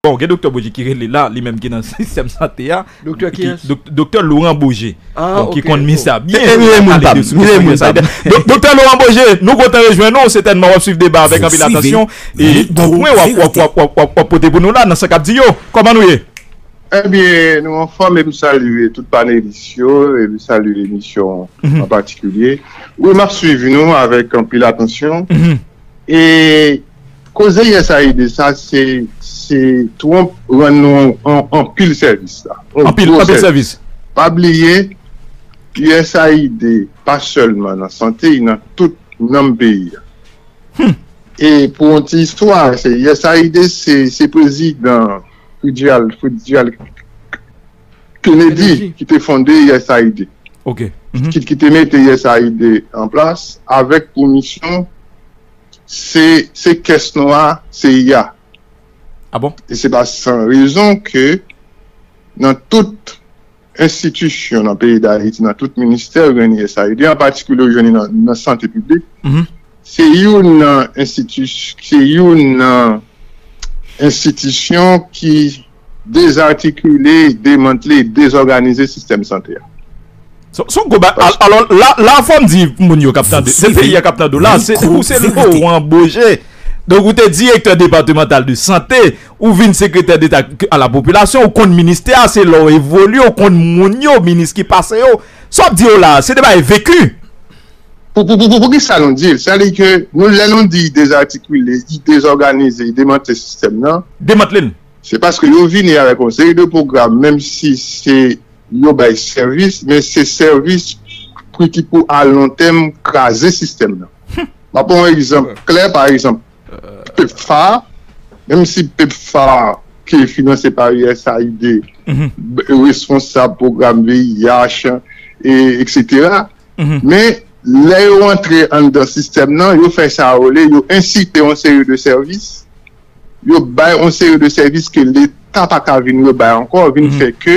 Bon gen doktè Boje ki rele la li menm ki nan sistèm sante a. Doktè kiyès? Doktè Laurent Boje. Ah ok. Ki konn misa byen. Li menm moun pam. Li menm moun pam. Doktè Laurent Boje nou kontan rejwenn ou sètènman wap swiv deba avèk anpil atansyon e bon pwen wap pote pou nou la nan sa kap di yo. Kòman nou ye? Ebyen nou anfòm e m salye tout panelis yo e m salye emisyon an an patikilye. Wi map swiv nou avèk anpil atansyon e. Koze usaid sa se se Trump rann nou anpil sèvis la. Anpil anpil sèvis. Pa bliye usaid pa sèlman nan sante li nan tout nanm peyi a. Humm. E pou yon ti istwa se usaid se se prezidan Fridjirald Fridjirald Kennedy ki te fonde usaid. Ok. Ki te mete usaid an plas avèk pou misyon Se se kès nou a se ya. Ah bon? E se pa san rezon ke nan tout enstitisyon nan peyi Dayiti, nan tout ministè ou jwenn usaid, an patikilye ou jwenn li nan sante piblik, se youn nan enstitisyon ki Dezatikile, demantle, dezòganize sistèm sante a. Son gwo bagay, alò la fòm di moun yo kap tande, se peyi a kap tande w la, ou se Laurent Beaugé, donk ou te direktè depatemantal de sante, ou vin sekretè deta a la popilasyon, ou konn ministè a, se la w evolye, ou konn moun yo, minis ki pase yo, sa w ap di yo la, se de bagay veki. Poukisa nou di l, sa di ke lè nou di dezatikile, dezòganize, demantle sistèm nan. Demantle l. Se paske yo vini avèk yon seri de pwogram menm si se yo bay sèvis men se sèvis pri ki pou a lon tèm kraze sistèm nan. M ap ban yon egzanp klè pa egzanp pepfa menm si pepfa ki finanse pa usaid responsab pwogram VIH eksetera men lè yo antre anndan sistèm nan yo fè sa yo rele yo ensite yon seri de sèvis yo bay yon seri de sèvis ke leta pa ka vin rebay ankò, vin fè ke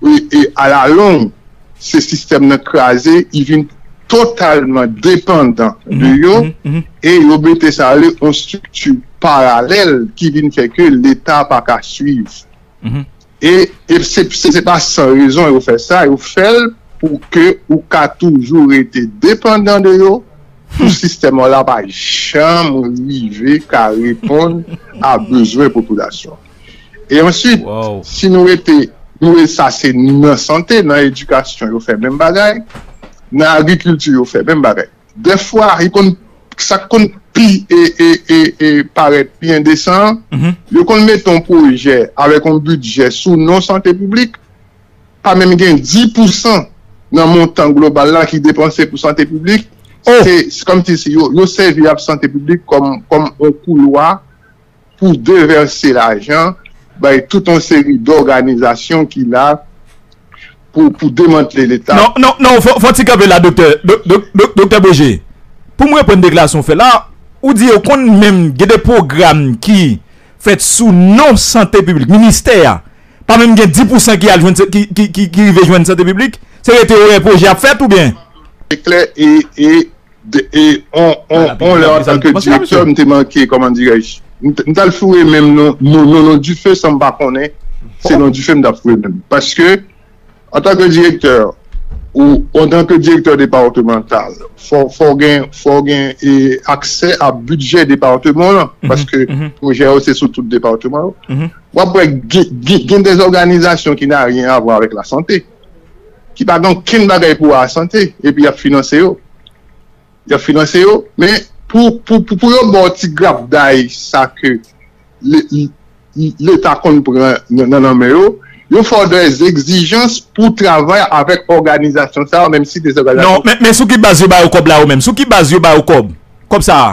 e alalong se sistèm nan kraze, li vin totalman depandan de yo, e yo mete sa rele yon estrikti paralèl ki vin fè ke leta pa ka swiv. E se pa san rezon yo fè sa, yo fè l pou ke ou ka toujou rete depandan de yo, pou sistèm an la pa janm rive ka reponn a bezwen popilasyon an. E answit, si nou rete, nou rete sa se nan sante, nan edikasyon yo fè menm bagay, nan agrikilti yo fè menm bagay. dèfwa yo konn sak konn pi e parèt pi endesan an yo konn mete yon pwojè avèk yon bidjè sou non sante piblik pa menm gen 10 pousan nan montan global la ki depanse pou sante piblik se kòmsi yo sèvi ap sante piblik kòm yon koulwa pou devèse lajan bay tout yon seri dòganizasyon ki la pou demantle leta. Non, non, non, fò w ti kanpe la doktè, doktè Beaugé. Pou m reprann deklarasyon w fè la, ou di yo konn menm gen de pwogram ki fèt sou non sante piblik, ministè a pa menm gen 10 pousan ki al jwenn, ki rive jwenn sante piblik, se rete orè pwojè ap fèt oubyen? Se klè e E on on lè an tanke direktè m te manke kòman dirè j. M tal foure men m non non non dife san m pa konnen se non dife m tap foure men m. Paske an tanke direktè ou an tanke direktè depatmantal fò fò gen fò gen e aksè a bidjè depatman w lan paske pwojè yo se sou tout depatman yo. Wap wè gen gen dezòganizasyon ki n a ryen avwa avèk lasante. ki pa gen okenn bagay pou asante epi y ap finanse yo. Y ap finanse yo men pou yo ba w ti grapday sa ke Leta konn pran nan men yo, yo fè w dè egzijans pou w travay avèk òganizasyon sa yo menm si de òganizasyon sa yo. Men sou ki baz yo ba yo kòb la yo menm? Sou ki baz yo ba yo kòb sa a?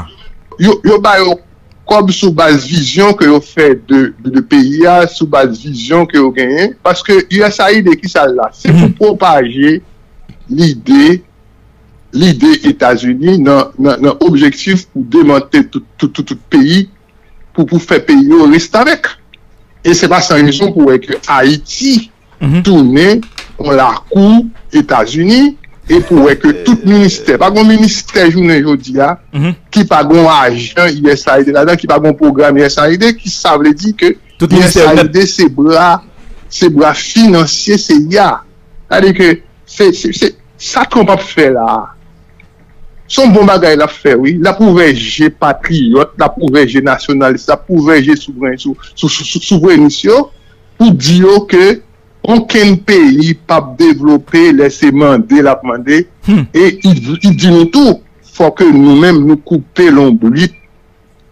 Yo ba yo kòb sou baz vizyon ke yo fè de peyi a, sou baz vizyon ke yo genyen, paske usaid e kisa l la? Se pou pwopaje lide, lide Etazini nan objektif pou demante tout peyi, pou fè peyi yo restavèk. E se pa san rezon pou wè ke Ayiti. tounen yon lakou Etazini e pou wè ke tout ministè, pa gon ministè jounen jodi a ki pa gon ajan usaid ladan, ki pa gon pwogram usaid, ki sa vle di ke usaid se bra, se bra finansye cia. Sa vle di ke se, se, se, sa Trump ap fè la a, se yon bon bagay lap fè wi, lap ouvè je patriyòt, lap ouvè je nasyonalis, lap ouvè je souvren, sou, sou, sou, sou, souvrenis yo, pou di yo ke okenn peyi pap devlope lè se mande lap mande e li di nou tou fò ke nou menm nou koupe lonbrit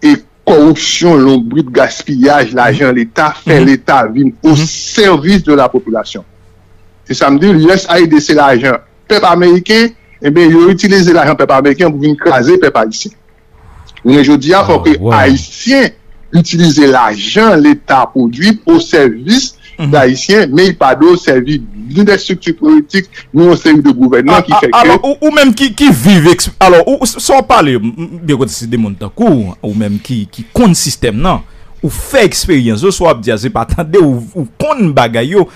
e kòripsyon lonbrit gaspiyaj lajan leta fè leta vin o sèvis de la popilasyon se sa m di usaid se lajan pèp ameriken e byen yo itilize lajan pèp ameriken pou vin kraze pèp ayisyen. Jounen jodi a fòk ayisyen itilize lajan leta pwodwi o sèvis dayisyen men y pa do sèvi ni de estrikti politik ni yon seri de gouvènman ki fè ke. Alò ou menm ki viv alò ou sa w pale m byen konnen se de moun tankou w ou menm ki konn sistèm nan ou fè eksperyans yo sa w ap di a se pa tande w ou konn bagay yo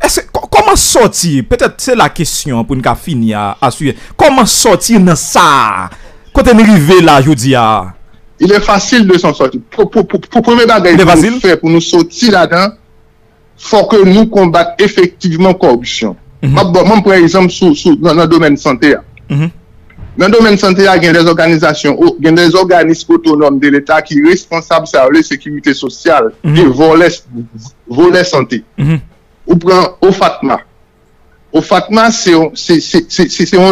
èske kòman sòti petèt se la kesyon pou n ka fini a a sijè kòman sòti nan sa a. Kote n rive la jodi a? Il est facile de s'en sortir. Pou premye bagay pou nou fè pou nou soti ladan, fò ke nou konbat efektivman kòripsyon. M ap ban, m pran egzanp sou nan domèn sante a. Nan domèn sante a gen dè òganizasyon, gen dè òganis otonòm de leta ki responsab sa yo rele sekirite sosyal, de vòlè, volè sante. Ou pran OFATMA. O Fatma se yon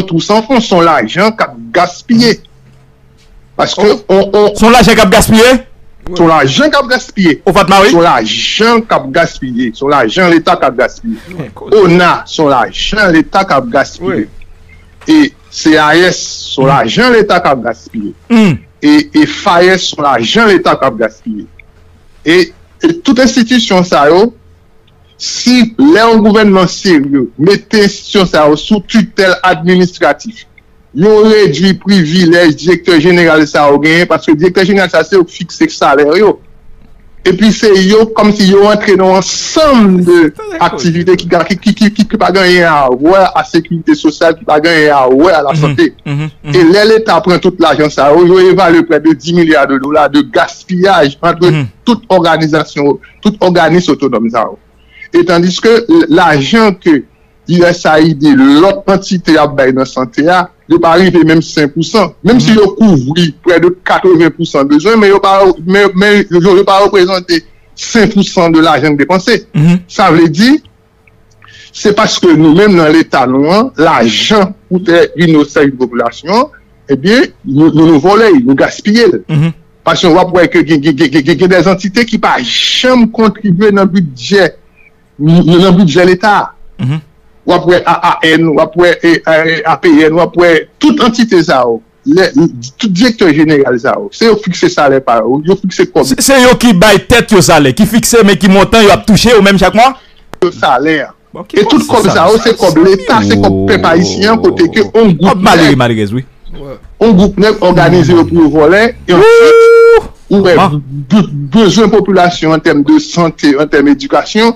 twou san fon, son lajan kap gaspiye. Paske on... Son lajan kap gaspiye? Son lajan kap gaspiye. O Fatma wi? Son lajan kap gaspiye. Son lajan leta kap gaspiye. Ona, son lajan leta kap gaspiye. E CAS, son lajan leta kap gaspiye. E FAES, son lajan leta kap gaspiye. E tout enstitisyon sa yo... si lè yon gouvènman serye mete enstitisyon sa yo sou titèl administratif, yo redui privilèj direktè jeneral sa yo genyen paske direktè jeneral sa yo se yo ki fikse salè yo. Epi se yo kòm si yo antre nan yon ansanm de aktivite ki pa gen anyen a wè a sekirite sosyal, ki pa gen anyen a wè a lasante. E lè leta pran tout lajan sa yo, yo evalye prè de 10 milya de dola de gaspiyaj antre tout òganizasyon tout òganis otonòm sa yo. E tandiske lajan ke usaid e lòt antite ap bay nan sante a, yo pa rive menm 5 pousan. Menm si yo kouvri prè de 80 pousan bezwen, men yo pa men yo pa reprezante 5 pousan de lajan k depanse. Sa vle di. se paske nou menm nan leta nou an lajan pou tè inosan yon popilasyon an ebyen nou vòlè l nou gaspiye l paske wap wè ke gen de zantite ki pa janm kontribye nan bidjè nan bidjè leta wap wè AAN wap wè APN wap wè tout antite sa yo Lè, tout direktè jeneral sa yo, se yo k fikse salè pa yo wi, yo fikse kòb yo. Se yo ki bay tèt yo salè, ki fikse men ki montan yo ap touche yo menm chak mwa? Yo salè an. E tout kòb sa yo, se kòb leta, se kòb pèp ayisyen an kote ke yon gwoup nèg, yon gwoup nèg òganize yo pou yo vòlè, e answit, ou wè, bezwen popilasyon an tèm de sante, an tèm edikasyon.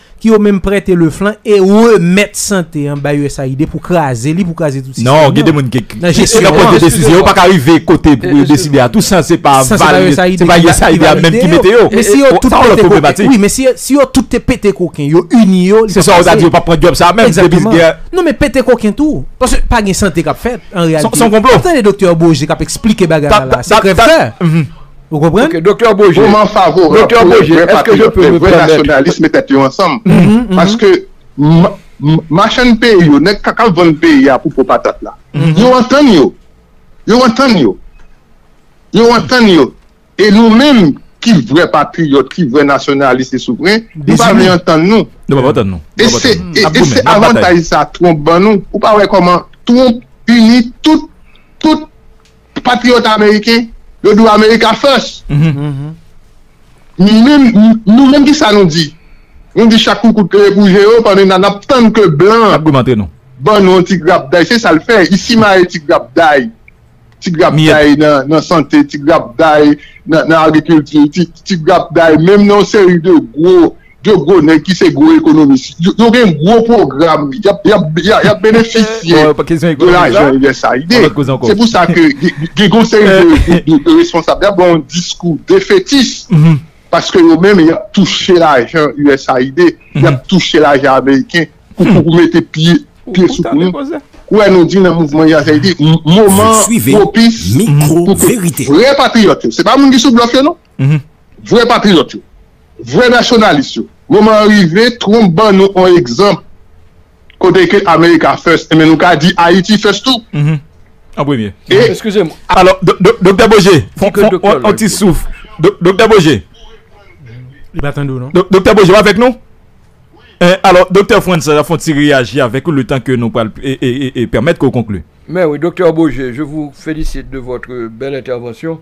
ki yo menm prete le flan e remèt sante an bay usaid pou kraze li, pou kraze tout sistèm nan. Non, gen de moun ki nan jesyon an. Yo pran de desizyon, yo pa ka rive kote pou yo deside a tou san se pa valide, se pa usaid a menm ki mete yo. Men si yo tout pete koken, wi men si yo tout te pete koken, yo ini yo, li pa pase. Se sa ou ta di yo pa pran djòb sa menm, depi se gen. Non men pete koken tou, paske pa gen sante k ap fèt an reyalite. Son konplo. Ou tande doktè Beaugé k ap esplike bagay la la, se krèv kè. Ou konprann? Ok, Doktè Beaugé. Moman favorab Doktè pou lè Beaugé, vrè èske je patriyòt, peux lè me vrè permettre? nasyonalis mete tèt yo ansanm. Paske ma, ma, machann peyi yo, nèg ka, k ap vann peyi a pou po patat la, yo antann yo. Yo antann yo. Yo antann yo. E nou menm ki vrè patriyòt, ki vrè nasyonalis e souvren, nou pa vle Dezini. antann nou. Nou pap antann nou. Nou E pap se, antann nou. e, N ap e goumen, se n ap batay. avantaj sa Trump ban nou. Ou pa wè kòman Trump ini tout, tout. Patriyòt ameriken, yo di w America first. Nou menm ki sa nou di? Nou di chak koukout kreye pou je yo pandentan n ap tann ke blan an ban nou yon ti grapday. Se sa l fè. I simaye ti grapday. Ti grapday nan sante, ti grapday nan agrikilti, ti grapday menm nan yon seri de gwo. 2 gwo nèg ki se gwo ekonomis yo gen gwo pwogram yap benefisye de lajan usaid se pou sa ke gen yon seri de responsab yap ban yon diskou defetis paske yo menm yap touche lajan usaid yap touche lajan ameriken pou mete pye sou kou nou ou wè nou di nan mouvman usaid moman propis pou ke vrè patriyòt yo se pa moun ki sou blòf yo non. Vrè patriyòt yo, vrè nasyonalis yo, moman an rive Trump ban nou on egzanp kote ke America First enben nou ka di Haiti First tou. An premye. Eskize m. Alò, Doktè Beaugé, on ti souf. Doktè Beaugé. Li pa tande w non. Doktè Beaugé, w avèk nou? Wi. Alò, Doktè Frantz ap fè on ti reyaji avèk ou letan ke nou pral pèmèt ke w konkli. Mè wi, Doktè Beaugé, je vous félicite de votre belle intervention.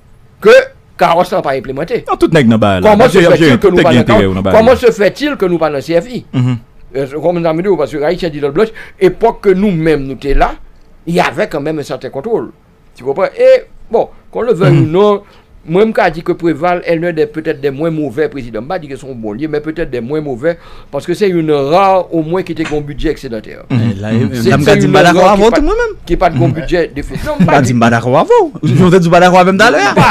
ke karos la pa enplemante. Nan tout nèg nan bagay la. Koman se fè til ke nou pa nan karos. Koman se fè til ke nou pa nan CFI. Koman sa mwen di ou paske ayisyen di dòt blanch epòk ke nou menm nou te la yavè kan menm yon sèten kontwol. Ti konpran? E bon kon le vèy ou non mwen m ka di ke preval è lè dè petèt dè mwen movè prezidan. M pa di ke son bon liye men petèt dè mwen movè. Paske se youn nan rare ou mwen ki te gen yon bidjè eksedantè. La m ka di m pa dakò avè w tou mwen menm. Ki pa t gen yon bidjè defini. M pa di m pa dakò avè w. Ou te di w pa dakò avè m talè a.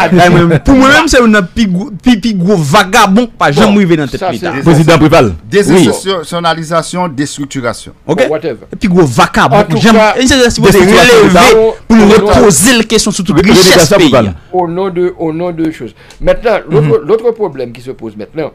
Pou mwen menm se youn nan pi gwo vagabon k pa janm rive nan tèt leta. Prezidan Preval. Dezensisyonalizasyon, destriktirasyon. Ok. Pi gwo vakabon k janm. Yon se se sipoze releve pou l repoze l kesyon sou tout richès peyi a. Reprezentasyon pou l. O non de, o non de chos. Mètnan, lotre pwoblèm ki se poze mètnan.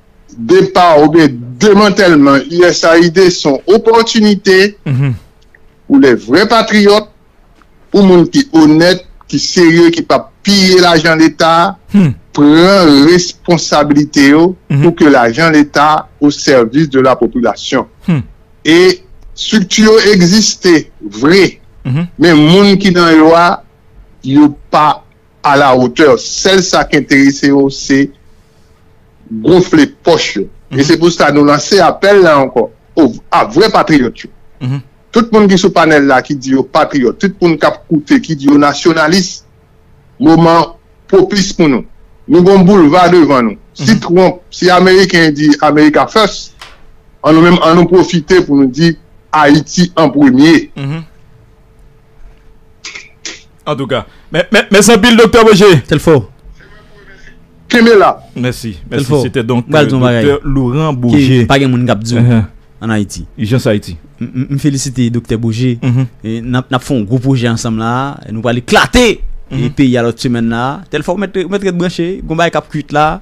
depa oubyen demantèlman usaid s on opòtinite pou lè vrè patriyòt, pou moun ki onèt, ki serye, ki pap piye lajan leta pran responsabilite yo pou ke lajan leta o sèvis de la popilasyon. E strikti yo egziste vre men moun ki nan yo a yo pa a la hotè sèl sa k enterese yo se gonfle pòch yo e se pou sa nou lanse apèl la ankò a vrè patriyòt yo tout moun ki sou panèl la ki di yo patriyòt tout moun k ap koute ki di yo nasyonalis moman pwopis pou nou nou gon boulva devan nou si twonp si ameriken di america first an nou menm an nou pwofite pou nou di ayiti an premye. An tou ka, mèsi anpil Doktè Roger. Telfò. Kenbe la. Mèsi, mèsi. Se te donk Doktè Laurent Boger. Pa gen moun kap di ou an Ayiti. Ijans Ayiti. M felisite Doktè Boger. N ap fè yon gwo pwojè ansanm la. Nou pral eklate peyi a lòt semèn la. Telfò ou mèt ret branche. Gon bagay kap kwit la.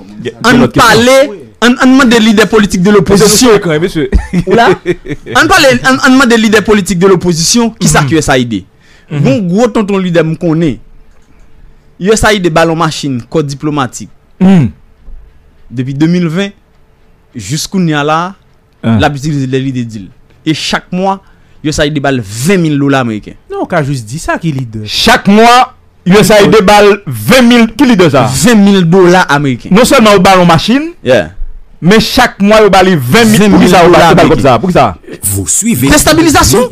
Ann pale, ann mande lidè politik de lopozisyon, ann mande lidè politik de lopozisyon ki sa ki usaid? Gon gwo tonton lidè m konnen, usaid ba l yon machin kò diplomatik depi 2020 jis kounye a la a. l ap itilize l lè li de di l. E chak mwa, usaid ba l 20 mil dola ameriken. Non, ou ka jis di sa ki lide. Chak mwa, usaid ba l 20 mil, ki lide sa? 20 mil dola ameriken. Non sèlman yo ba l yon machin, men chak mwa yo ba li 20 mil dola ameriken. Pou ki sa yo ba l kòb sa? Pou ki sa? Destabilizasyon!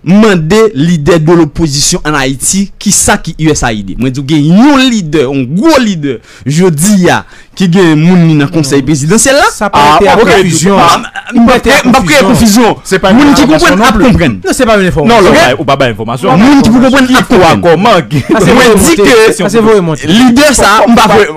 M mande lidè de lopozisyon an Ayiti ki sa ki usaid. Mwen di w gen yon lidè, yon gwo lidè jodi a ki gen moun li nan konsèy prezidansyèl la. Sa pa rete a konfizyon. M pa ap kreye konfizyon. Moun ki konprann ap konprann. Non se pa yon enfòmasyon. Ou pa bay enfòmasyon. Moun ki pou konprann ap konprann. Mwen di ke lidè sa, m pa vle.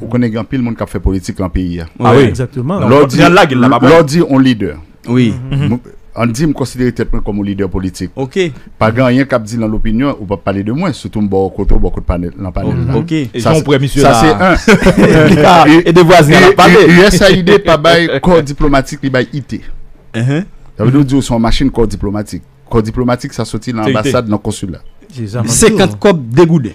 Ou konnen gen anpil moun k ap fè politik lan peyi a. Ah oui, exactement. Lè w di, Gen lag, il la pa pale. lè w di on lidè, Oui. an n di m konsidere tèt mwen kòm on lidè politik. Ok. Pa gen anyen k ap di lan lopinyon, ou p ap pale de mwen, sitou m ba w kote w, ba w kot panèl, lan panèl la. Ok. E jan w pran misye la. Sa se 1. Li pa, e de vwazen an l ap pale. U, usaid pa bay kò diplomatik, li bay it. Ehe. Sa vle di w di w se on machin kò diplomatik. Kò diplomatik sa soti lan Te ite. anbasad, lan konsila. Se sa m ap di w. 50 kòb 2 gouden.